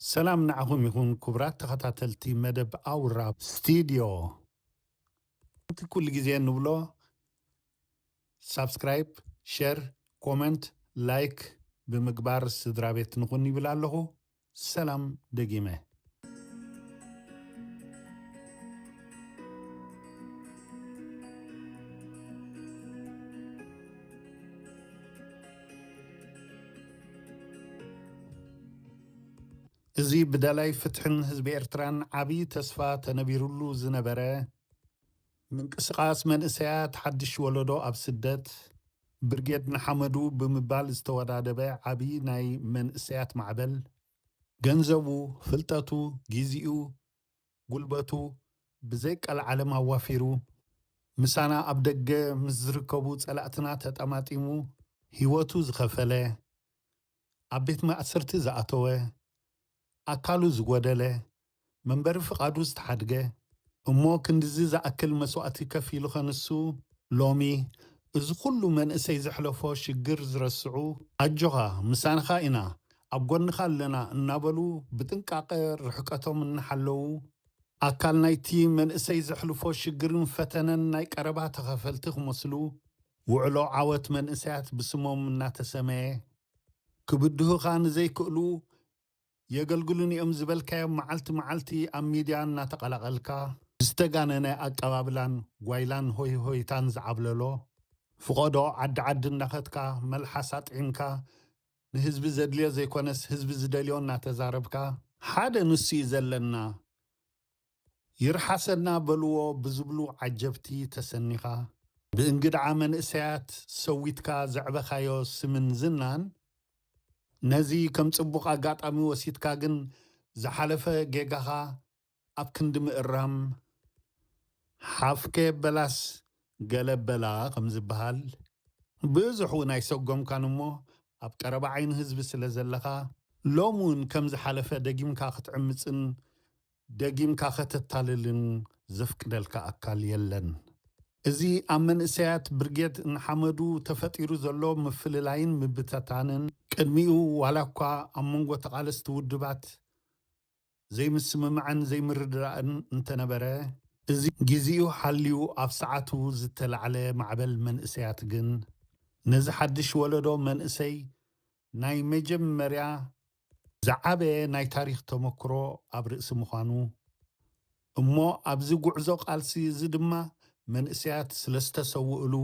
ሰላም ንዓኹም ይኹን ኩቡራት ተኸታተልቲ መደብ ኣውራ ስቲድዮ ከምቲ ኩሉ ግዜ ንብሎ ሳብስክራይብ ሸር ኮመንት ላይክ ብምግባር ስድራቤት ንኹን ይብል ኣለኹ ሰላም ደጊመ። እዚ ብደላይ ፍትሕን ህዝቢ ኤርትራን ዓብዪ ተስፋ ተነቢሩሉ ዝነበረ ምንቅስቓስ መንእሰያት ሓድሽ ወለዶ ኣብ ስደት፣ ብርጌድ ንሓመዱ ብምባል ዝተወዳደበ ዓብዪ ናይ መንእሰያት ማዕበል፣ ገንዘቡ፣ ፍልጠቱ፣ ጊዚኡ፣ ጉልበቱ ብዘይ ቀልዓለም ኣዋፊሩ፣ ምሳና ኣብ ደገ ምስ ዝርከቡ ጸላእትና ተጠማጢሙ ህይወቱ ዝኸፈለ፣ ኣብ ቤት ማእሰርቲ ዝኣተወ፣ ኣካሉ ዝጎደለ፣ መንበሪ ፍቓዱ ዝተሓድገ፣ እሞ ክንድዚ ዝኣክል መስዋእቲ ከፊሉኸ ንሱ ሎሚ እዚ ኩሉ መንእሰይ ዘሕለፎ ሽግር ዝረስዑ፣ ኣጆኻ ምሳንኻ ኢና ኣብ ጎንኻ ኣለና እናበሉ ብጥንቃቐ ርሕቀቶም እናሓለዉ፣ ኣካል ናይቲ መንእሰይ ዘሕልፎ ሽግርን ፈተነን ናይ ቀረባ ተኻፈልቲ ክመስሉ፣ ውዕሎ ዓወት መንእሰያት ብስሞም እናተሰመየ፣ ክብድሁኻ ንዘይክእሉ የገልግሉኒ እዮም ዝበልካዮም መዓልቲ መዓልቲ ኣብ ሚድያ እናተቐላቐልካ፣ ብዝተጋነነ ኣቀባብላን ጓይላን ሆይሆይታን ዝዓብለሎ ፍቖዶ ዓዲ ዓዲ እናኸድካ መልሓስ ኣጥዒምካ ንህዝቢ ዘድልዮ ዘይኮነስ ህዝቢ ዝደልዮ እናተዛረብካ ሓደ ንሱ እዩ ዘለና ይርሓሰና በልዎ ብዝብሉ ዓጀብቲ ተሰኒኻ ብእንግድዓ መንእሰያት ሰዊትካ ዘዕበኻዮ ስምን ዝናን ነዚ ከም ጽቡቕ ኣጋጣሚ ወሲድካ ግን ዝሓለፈ ጌጋኻ ኣብ ክንዲ ምእራም ሓፍ ከየበላስ ገለ በላ ከም ዝበሃል፣ ብዙሕ'ውን ኣይሰጎምካን እሞ ኣብ ቀረባ ዓይኒ ህዝቢ ስለ ዘለኻ፣ ሎሚ'ውን ከም ዝሓለፈ ደጊምካ ክትዕምጽን ደጊምካ ከተታልልን ዘፍቅደልካ ኣካል የለን። እዚ ኣብ መንእሰያት ብርጌድ ንሓመዱ ተፈጢሩ ዘሎ ምፍልላይን ምብተታንን፣ ቅድሚኡ ዋላ'ኳ ኣብ መንጎ ተቓለስቲ ውድባት ዘይምስምማዕን ዘይምርድዳእን እንተነበረ፣ እዚ ጊዚኡ ሓልዩ ኣብ ሰዓቱ ዝተላዕለ ማዕበል መንእሰያት ግን፣ ነዚ ሓድሽ ወለዶ መንእሰይ ናይ መጀመርያ ዝዓበየ ናይ ታሪኽ ተመክሮ ኣብ ርእሲ ምዃኑ፣ እሞ ኣብዚ ጉዕዞ ቃልሲ እዚ ድማ መንእሰያት ስለዝተሰውእሉ፣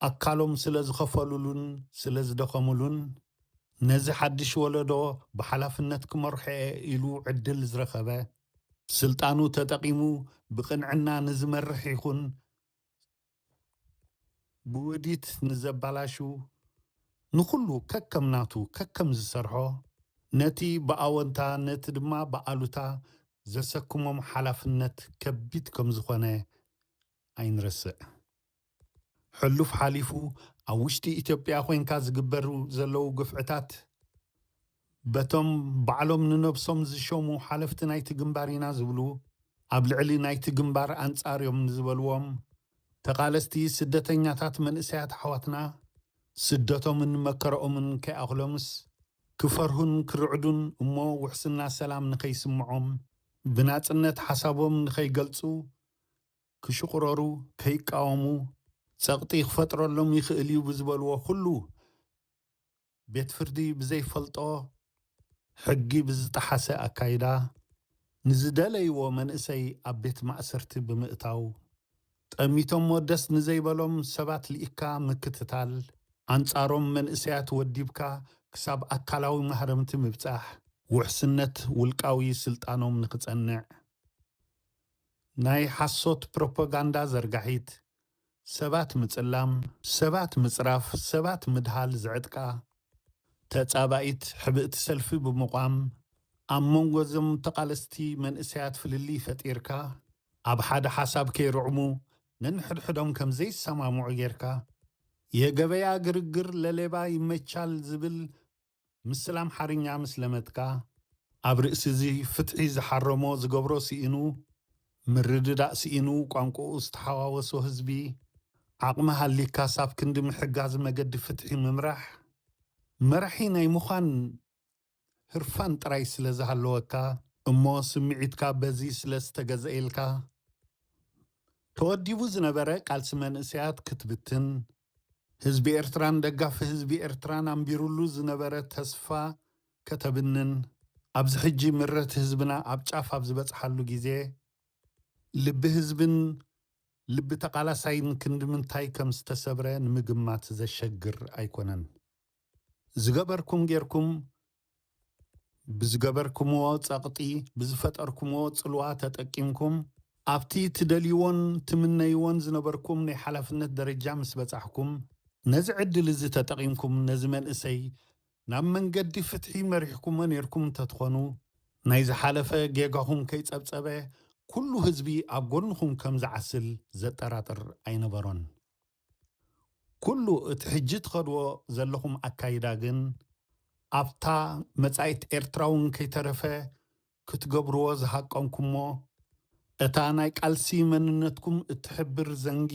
ኣካሎም ስለዝኸፈሉሉን ስለዝደኸምሉን፣ ነዚ ሓድሽ ወለዶ ብሓላፍነት ክመርሖ'የ ኢሉ ዕድል ዝረኸበ፣ ስልጣኑ ተጠቒሙ ብቕንዕና ንዝመርሕ ይኹን ብውዲት ንዘባላሽው ንኹሉ ከከም ናቱ ከከም ዝሰርሖ ነቲ ብኣወንታ ነቲ ድማ ብኣሉታ ዘሰክሞም ሓላፍነት ከቢድ ከምዝኾነ ኣይንረስዕ። ሕሉፍ ሓሊፉ ኣብ ውሽጢ ኢትዮጵያ ኮይንካ ዝግበሩ ዘለው ግፍዕታት፣ በቶም ባዕሎም ንነብሶም ዝሸሙ ሓለፍቲ ናይቲ ግንባር ኢና ዝብሉ ኣብ ልዕሊ ናይቲ ግንባር ኣንጻር እዮም ንዝበልዎም ተቓለስቲ ስደተኛታት መንእሰያት ኣሕዋትና ስደቶምን መከረኦምን ከይኣኽሎምስ ክፈርሁን ክርዕዱን እሞ ውሕስና ሰላም ንከይስምዖም ብናጽነት ሓሳቦም ንከይገልጹ ክሽቑረሩ ከይቃወሙ ጸቕጢ ክፈጥረሎም ይኽእል እዩ ብዝበልዎ ኩሉ ቤት ፍርዲ ብዘይፈልጦ ሕጊ ብዝጠሓሰ ኣካይዳ ንዝደለይዎ መንእሰይ ኣብ ቤት ማእሰርቲ ብምእታው ጠሚቶሞ ደስ ንዘይበሎም ሰባት ልኢኽካ ምክትታል፣ ኣንፃሮም መንእሰያት ወዲብካ ክሳብ ኣካላዊ ማህረምቲ ምብፃሕ፣ ውሕስነት ውልቃዊ ስልጣኖም ንክፀንዕ ናይ ሓሶት ፕሮፓጋንዳ ዘርጋሒት ሰባት ምጽላም፣ ሰባት ምጽራፍ፣ ሰባት ምድሃል ዝዕጥቃ ተጻባኢት ሕብእቲ ሰልፊ ብምቛም፣ ኣብ መንጎ እዞም ተቓለስቲ መንእሰያት ፍልልይ ፈጢርካ፣ ኣብ ሓደ ሓሳብ ከይርዕሙ ነንሕድሕዶም ከም ዘይሰማምዑ ጌርካ፣ የገበያ ግርግር ለሌባ ይመቻል ዝብል ምስላ ኣምሓርኛ ምስ ለመድካ፣ ኣብ ርእሲ'ዚ ፍትሒ ዝሓረሞ ዝገብሮ ስኢኑ፣ ምርድዳእ ስኢኑ ቋንቁኡ ዝተሓዋወሶ ህዝቢ፣ ዓቕሚ ሃሊካስ ኣብ ክንዲ ምሕጋዝ መገዲ ፍትሒ ምምራሕ፣ መራሒ ናይ ምዃን ህርፋን ጥራይ ስለ ዝሃለወካ፣ እሞ ስምዒትካ በዚ ስለ ዝተገዘኤልካ፣ ተወዲቡ ዝነበረ ቃልሲ መንእሰያት ክትብትን፣ ህዝቢ ኤርትራን ደጋፊ ህዝቢ ኤርትራን ኣንቢሩሉ ዝነበረ ተስፋ ከተብንን፣ ኣብዚ ሕጂ ምረት ህዝብና ኣብ ጫፍ ኣብ ዝበጽሓሉ ግዜ፣ ልቢ ህዝብን ልቢ ተቓላሳይን ክንድምንታይ ከም ዝተሰብረ ንምግማት ዘሸግር ኣይኮነን። ዝገበርኩም ጌርኩም ብዝገበርክምዎ ጸቕጢ ብዝፈጠርክምዎ ጽልዋ ተጠቂምኩም ኣብቲ ትደልይዎን ትምነይዎን ዝነበርኩም ናይ ሓላፍነት ደረጃ ምስ በጻሕኩም፣ ነዚ ዕድል እዚ ተጠቒምኩም ነዚ መንእሰይ ናብ መንገዲ ፍትሒ መሪሕኩሞ ኔርኩም እንተትኾኑ፣ ናይ ዝሓለፈ ጌጋኹም ከይጸብጸበ ኩሉ ህዝቢ ኣብ ጎንኹም ከም ዝዓስል ዘጠራጥር ኣይነበሮን። ኩሉ እቲ ሕጂ ትኸድዎ ዘለኹም ኣካይዳ ግን ኣብታ መጻኢት ኤርትራ እውን ከይተረፈ ክትገብርዎ ዝሃቀንኩሞ እታ ናይ ቃልሲ መንነትኩም እትሕብር ዘንጊ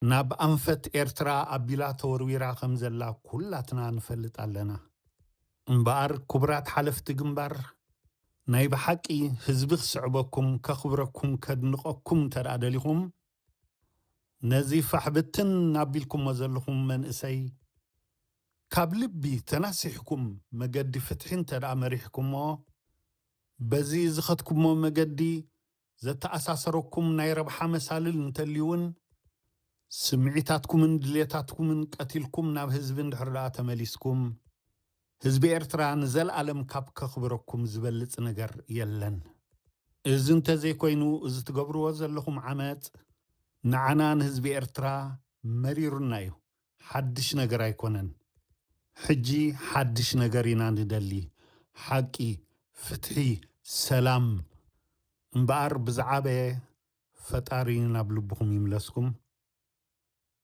ናብ ኣንፈት ኤርትራ ኣቢላ ተወርዊራ ከም ዘላ ኩላትና ንፈልጥ ኣለና። እምበኣር ክቡራት ሓለፍቲ ግንባር ናይ ብሓቂ ህዝቢ ክስዕበኩም፣ ከኽብረኩም፣ ከድንቐኩም እንተድኣ ደሊኹም ነዚ ፋሕ ብትን ኣቢልኩሞ ዘለኹም መንእሰይ ካብ ልቢ ተናሲሕኩም መገዲ ፍትሒ እንተድኣ መሪሕኩሞ በዚ ዝኸድኩሞ መገዲ ዘተኣሳሰረኩም ናይ ረብሓ መሳልል እንተልዩውን ስምዒታትኩምን ድሌታትኩምን ቀቲልኩም ናብ ህዝቢ እንድሕር ድኣ ተመሊስኩም ህዝቢ ኤርትራ ንዘልኣለም ካብ ከኽብረኩም ዝበልጽ ነገር የለን። እዚ እንተዘይኮይኑ እዚ ትገብርዎ ዘለኹም ዓመጽ ንዓና ንህዝቢ ኤርትራ መሪሩና እዩ ሓድሽ ነገር ኣይኮነን። ሕጂ ሓድሽ ነገር ኢና ንደሊ ሓቂ ፍትሒ ሰላም እምበኣር ብዝዓበየ ፈጣሪ ናብ ልብኹም ይምለስኩም።